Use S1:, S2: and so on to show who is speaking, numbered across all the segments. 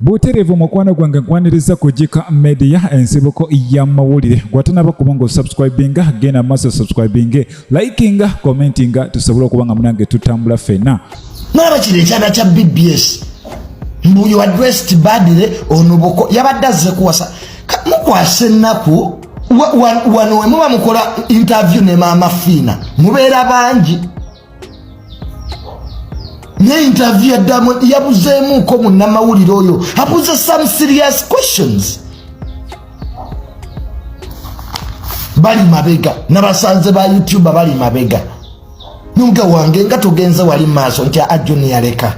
S1: Buterevu mukwano gwange nkwaniriza ku Gika Media ensibuko y'amawulire gwatanaba kuba nga osubscribinga genda maaso subscribinge likinga commentinga tusobole okuba nga munange tutambula fena nolaba kino
S2: ekyana kya bbs mbu you addressed badly onoboko yabadde azze kuwasa mukwasa ennaku wano wemuba mukola interview ne maama fiina mubeera bangi naye interview ya Diamond yabuzeemuuko munnamawulire oyo abuze some serious questions bali mabega nabasanze ba youtube bali mabega nunga wange nga tugenze wali maaso nti ajuni yaleka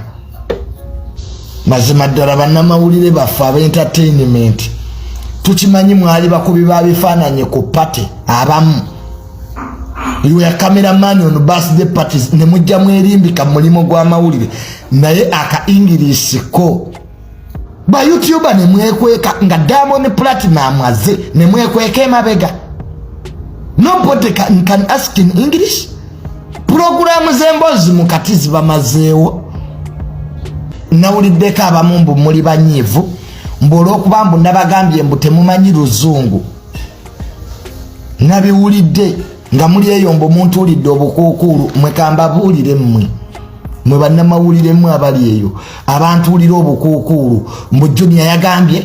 S2: mazima ddala bannamawulire baffe abentertainment tukimanyi mwali bakubi ba bifaananyi ku pate abamu you were camera man on birthday parties ne mujja mwerimbika mulimu gwa mawulire naye aka english ko ba youtuber ne mwekweka nga diamond platinum aze ne mwekweka emabega nobody can, can ask in english program zembozi mukati zibamazeewo nawuliddeko abamu mbu muli banyiivu mbu olwokuba mbu nabagambye mbu temumanyi luzungu nabiwulidde nga muli eyo mbu muntuulidde obukuukuulu mwe kambabuulire mmwe mwe bannamawulire mmwe abali eyo abantuulira obukuukuulu mbu junia yagambye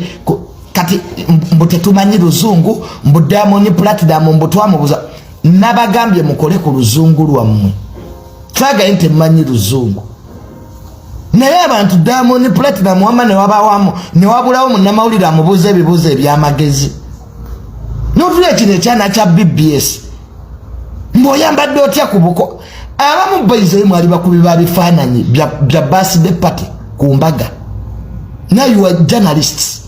S2: kati mbu tetumanyi luzungu mbu damoni platidamu mbu twamubuza nabagambye mukole ku luzungu lwammwe twagaye nti mmanyi luzungu naye abantu diamond platinum wama newabawamu newabulawo munamawulire amubuuza ebibuuzo ebyamagezi notula ekino ekyana kya bbs mboyambadde otya kubuko abamu baize mwali bakubi ba bifaananyi bya birthday party ku mbaga now you are journalists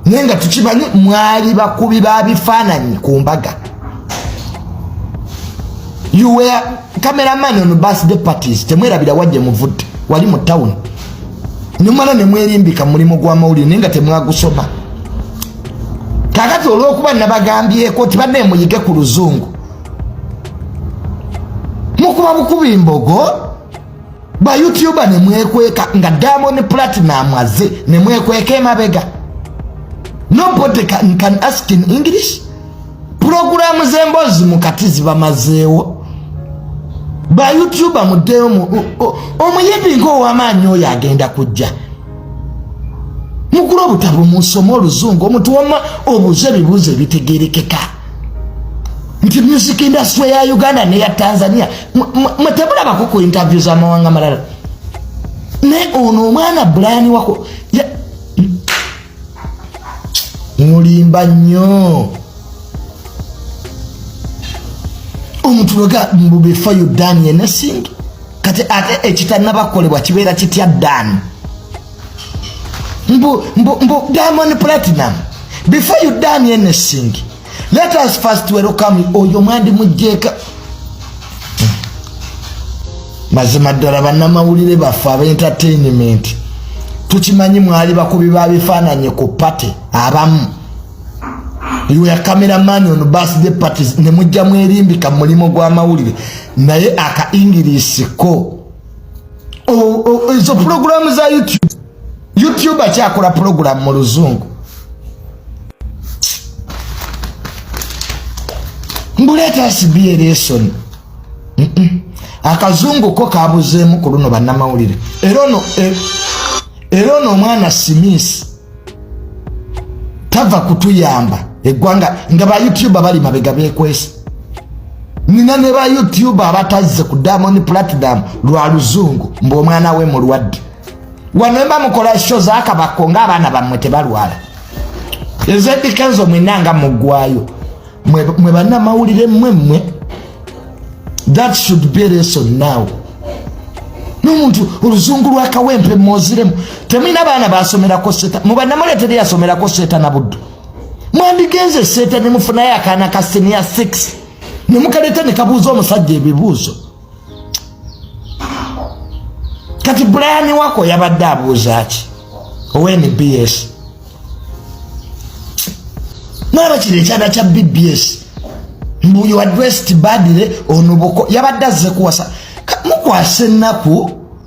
S2: naye nga tukimanyi mwali bakubi ba bifaananyi ku mbaga you were cameraman on birthday parties temwerabira wajje muvudde wali mu town nemala nemwerimbika mulimu gwamawulire naye nga temwagusoma kakati olwokuba nabagambyeko ti bannaye muyige ku luzungu mukuba bukubi mbogo ba youtuber ne mwekweka nga Diamond Platinum aze ne mwekweka emabega nobody can, can ask in English program zembozi mukati zibamazeewo ba youtuber muddeyo omuyimbi ng'owamaanyi oyo agenda kujja mugula obutabo munsoma oluzungu omuntu wama obuuza ebibuuzo ebitegerekeka nti music industry ya uganda neya tanzania mwetemulabako ku interview zamawanga malala naye ono omwana brian wako mulimba nnyo omuntu wega mbu before you done anything kati ate ekitanabakolebwa kibeera kitya dani mbu mbu mbu Diamond Platinum before you done anything let us first welcome oyo mwandi mujjeka mazima ddala bannamawulire baffe aba entertainment tukimanyi mwali bakubi ba bifaananyi ku party abamu iwe camera man on birthday parties ne mujja mwerimbika mulimu gwa mawulire naye aka english ko ezo pulogulaamu za youtube youtube akyakola pulogulaamu mu luzungu mbuleeta sibie lesoni akazungu ko kabuzeemu ku luno bannamawulire era ono e, omwana simisi tava kutuyamba eggwanga nga ba youtube bali mabega bekwesa nina ne ba youtube abatazze ku diamond platinum lwa luzungu mbu omwana we mulwadde wanemba mukola sho zakabako ngaabaana bammwe tebalwala ezedikenzo mwinanga muggwayo mwe banamawulire mwe mwe that should be lesson now nomuntu oluzungu lwakawempe moziremu temulina abaana basomerako seta mubanamule teri yasomerako seta na buddu mwandigenze seta nemufunayo akaana ka senior 6 nemukaleta nekabuuza omusajja ebibuuzo kati brian wako yabadde abuuza ki ownbs naaba kino ekyana kya bbs mbu you addressed badly onobuko yabadde azze kuwasa mukwasa ennaku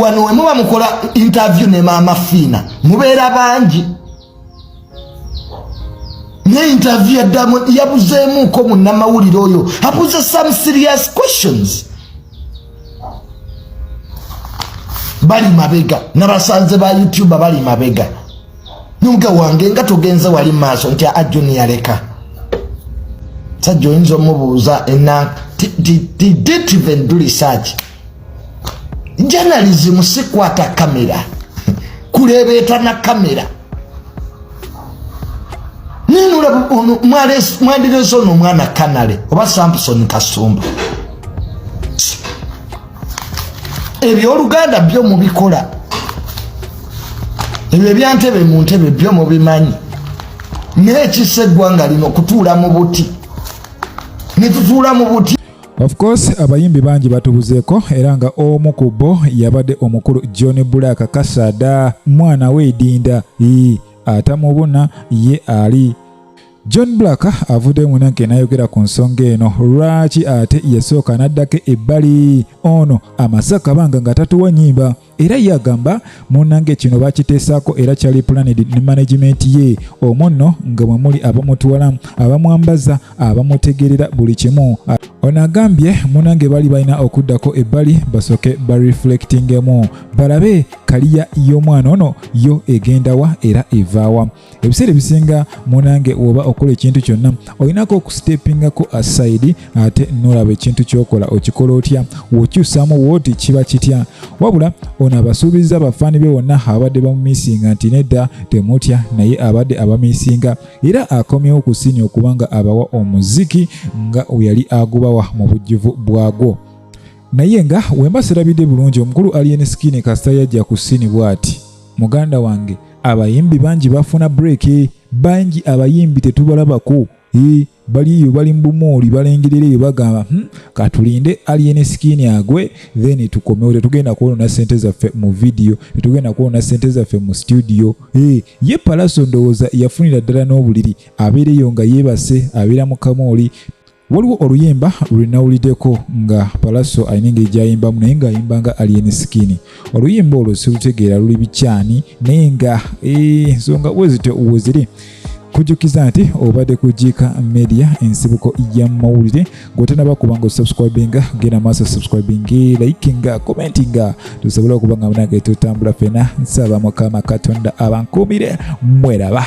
S2: wano wemuba mukola interview ne maama fiina mubeera bangi ne interview yaddamu yabuzeemuuko munnamawulire oyo abuze some serious questions bali mabega nabasanze ba youtube bali mabega nunga wange nga tugenze wali maaso nti a junior leka sajja oyinza omubuuza enanka didnt even do research journalism sikwata kamera kulebeeta na kamera ninula mwandireza ono omwana kanale oba samson kasumba ebyoluganda byo mubikola ebyo ebyantebe mu ntebe byo mubimanyi naye kisa eggwanga lino okutuula mu buti netutuula mu buti Of course
S1: abayimbi bangi batubuzeeko era nga omu ku bo yabadde omukulu John Black Kasada mwana we Idinda atamubuna ye ali John Black avuddeyo munanke n'ayogera ku nsonga eno lwaki ate yasooka n'addako ebbali ono amaze akabanga nga tatuwa nnyimba era ye agamba munange kino bakiteesaako era kyali pulanidi ne managimenti ye omwo nno nga mwe muli abamutwala abamwambaza abamutegerera buli kimu ono agambye munange bali balina okuddako ebbali basooke bareflectingemu balabe kaliya y'omwana ono yo egendawa era evaawa ebiseera ebisinga munange woba okola ekintu kyonna olinako okusitepingako asaidi ate nolaba ekintu kyokola okikola otya wokyusamu wooti kiba kitya wabula ono abasuubiza abafaani be wonna abadde bamumisinga nti nedda temutya naye abadde abamisinga era akomyewo ku siini okuba nga abawa omuziki nga weyali agubawa mu bujjuvu bwagwo naye nga wemba sirabidde bulungi omukulu alien skin kasita yajja ku sini bwati muganda wange abayimbi bangi bafuna breeki bangi abayimbi tetubalabako e bali eyo bali mu bumuuli balengerera eyo bagamba hmm, katulinde alien skin agwe then tukomewo tetugenda kwonona sente zaffe mu vidiyo tetugenda kwonona sente zaffe mu studio e ye palaso ndowooza yafunira ddala n'obuliri abeereyo nga yeebase abeera mu kamooli waliwo oluyimba lwenawulideko nga palaso alina engeri gyayimbamu naye ngaayimba nga alien skin oluyimba olwo silutegeera luli bikyani naye nga eh, ensonga wezityo weziri kujukiza nti obadde ku jika media ensibuko ya mawulire gwetanaba kuba nga osubscribinga genda maaso subscribing likinga commentinga tusobola okuba nga munage tutambula fena nsaba mukama katonda abankuumire mweraba